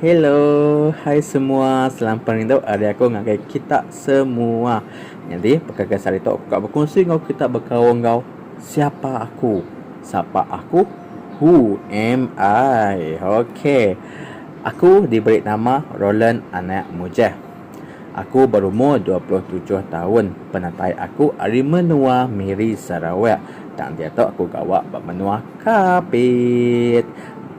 Hello, hai semua, selampar ngintu ari aku ngagai kita semua. Nyadi peka kes hari tu aku ka bekunsi enggau kita bekaul enggau siapa aku. Sapa aku? Who am I? Ok. Aku diberi nama Roland Anak Mujah. Aku berumur dua puluh tujuh taun. Penatai aku ari menua Miri, Sarawak. Tang diatu aku gawa ba menua Kapit.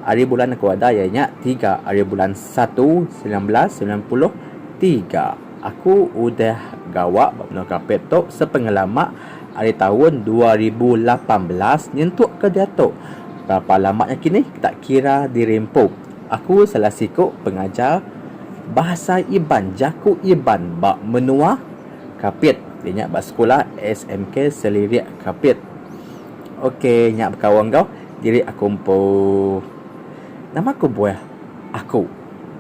Hari bulan aku ada iya nya tiga hari bulan satu semilan belas semilan puluh tiga. Aku udah gawa ba menua Kapit tu sepengelama ari taun dua ribu lapan belas nyentuk ke diatu. Berapa lama nya kinih kita kira diri empu. Aku salah siku pengajar. Bahasa Iban, Jaku Iban ba menua Kapit ti nya ba sekula SMK Selirik Kapit. Ok nya bekaul enggau diri aku empu. Nama kebuah aku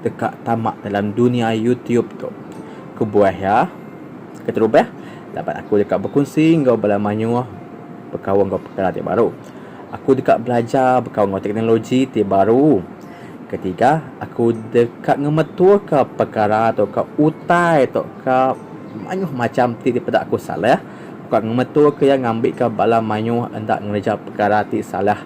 deka tama dalam dunia YouTube tu? Kebuah iya keterubah laban aku deka bekunsi enggau bala mayuh bekaul enggau perkara ti baru. Aku deka belajar bekaul enggau teknologi ti baru. Ketiga, aku deka ngemetuka pekara tauka utai tauka mayuh macham ti dipeda aku salah. Aku ka ngemetuka iya ngambika bala mayuh enda ngereja pekara ti salah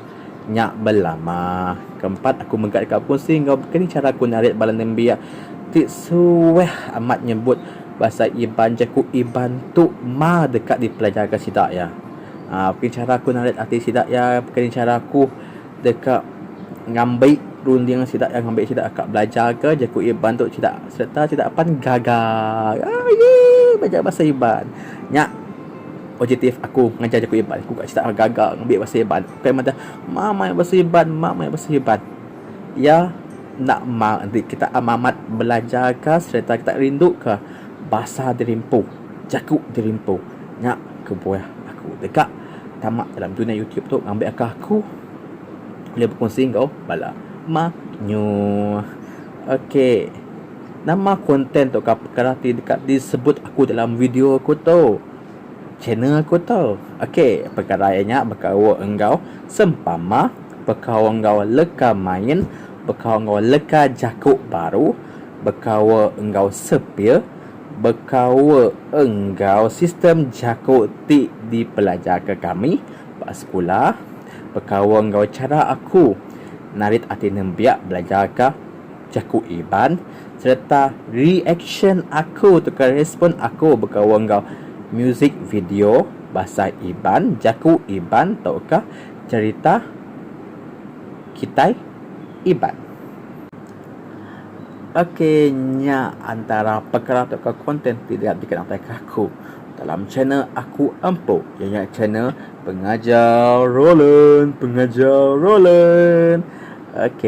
nya belama. Keempat, aku mega deka bekunsi enggau baka ni chara aku narit bala nembiak ti suah amat nyebut bahasa Iban jaku Iban tu ma deka dipelajarka sida iya. Baka ni chara aku narit ati sida iya, baka ni chara aku. deka ngambi runding sida iya ngambi sida ka belajarka jaku Iban tu sida sereta sida apan gaga aii belajar bahasa Iban. Nya positif aku ngajar jaku Iban ku sida gaga ngambi bahasa Iban bukai madah mak mai bahasa Iban mak mai bahasa Iban. Iya enda mak enti kita amat-amat belajarka sereta kita rinduka bahasa diri empu, jaku diri empu. Nya kebuah aku deka. Tama dalam dunya YouTube tu ngambi aka aku ulih bekunsi enggau bala mayuh. Ok. Nama konten tu ka perkara ti deka disebut aku dalam video aku tu. Channel aku tu. Ok. Perkara iya nya bekaul enggau sempama, bekaul enggau leka main, bekaul enggau leka jaku baru, bekaul enggau sepir. Bekaul enggau sistem jaku ti dipelajarka kami ba sekula, bekaul enggau chara aku narit ati nembiak belajarka jaku Iban sereta reaksyen aku tauka respon aku bekaul enggau musik video bahasa Iban, jaku Iban tauka cherita kitai Iban. Ok nya antara pekara tauka konten ti diak dikena aku dalam channel aku empu iya nya channel pengajar Rolan pengajar Rolan ok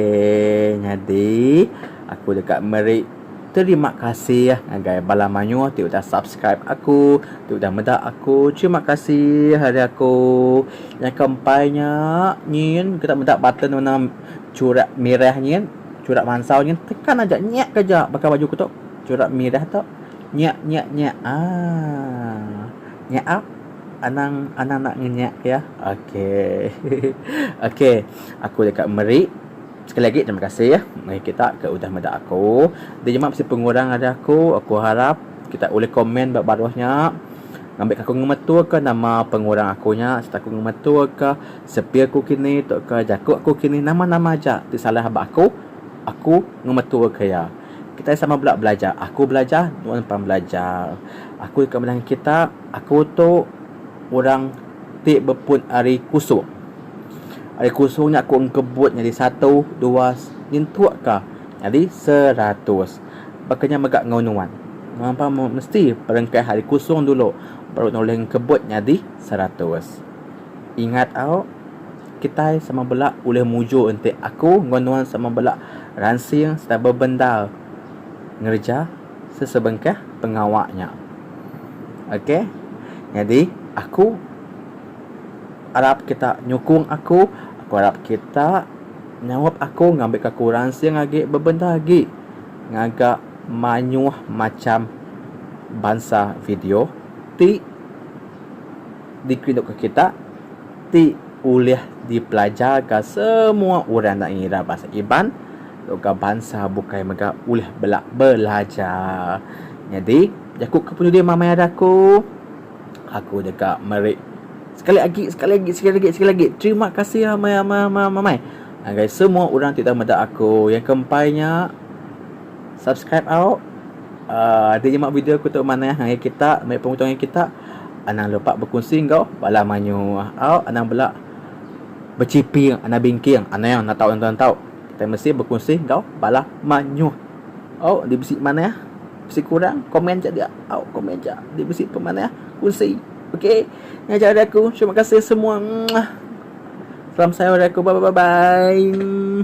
nyadi aku deka meri terima kasih ngagai bala mayuh ti udah subscribe aku ti udah meda aku terima kasih ari aku nyangka empai nya nyin kita meda button warna churak merah nyin. Curak mansau nyin tekan aja nyak ke ja baka baju ku tu. Curak midah tu nyak nyak nyak aaa nyak ap anang anang nak ngenyak ya. Okey. Okey. Aku deka meri sekali agi terima kasih ya meri kita ke udah meda aku. Di nyema bisi pengurang ari aku, aku harap kita ulih komen ba baruh nya ngambika aku ngemetuka nama pengurang aku nya sereta aku ngemetuka Sepi aku kini tauka jaku aku kini nama-nama aja ti salah ba aku, aku ngemeturka iya. Kitai sama bela belajar, aku belajar, nuan pan belajar. Aku deka belajar ngan kita, aku tu orang ti bepun ari kusung. Ari kusung nya aku engkebut nyadi satu, dua nyentukka nyadi seratus. Baka nya mega enggau nuan. Nuan pan mesti perengkah ari kusung dulu baru nuan ulih engkebut nyadi seratus. Ingat au, kitai sama bela ulih mujur enti aku enggau nuan sama bela ransing sereta bebendar ngereja sesebengkah pengawa nya. Ok, nyadi aku arap kita nyukung aku, aku arap kita nyaup aku ngambika aku ransing agi bebendar agi ngaga mayuh macham bansa video ti. dikerinduka kita ti ulih dipelajarka semua orang enda ngira bahasa Iban enggau bansa bukai mega ulih bela belajar. Nyadi jaku ke penudi mama ira aku, aku deka meri sekali agi sekali agi sekali agi sekali agi terima kasih amai amai amai amai ngagai semua orang ti dah meda aku. Yang ke empai nya subscribe au a nyema video aku tu manah ngagai kita meri pengutung ngagai kita. Anang lupa bekunsi enggau bala mayuh. Au anang bela bechiping anang bingking. Anang nentau enggau nentau. Kitai mesti bekunsi enggau bala mayuh. Au enti bisi manah, bisi kurang, komen aja dia. Au komen aja. Enti bisi pun manah, kunsi. Okey. Ngajar ari aku. Terima kasih semua. Mwah. Salam sayur ari aku. Bye-bye-bye-bye.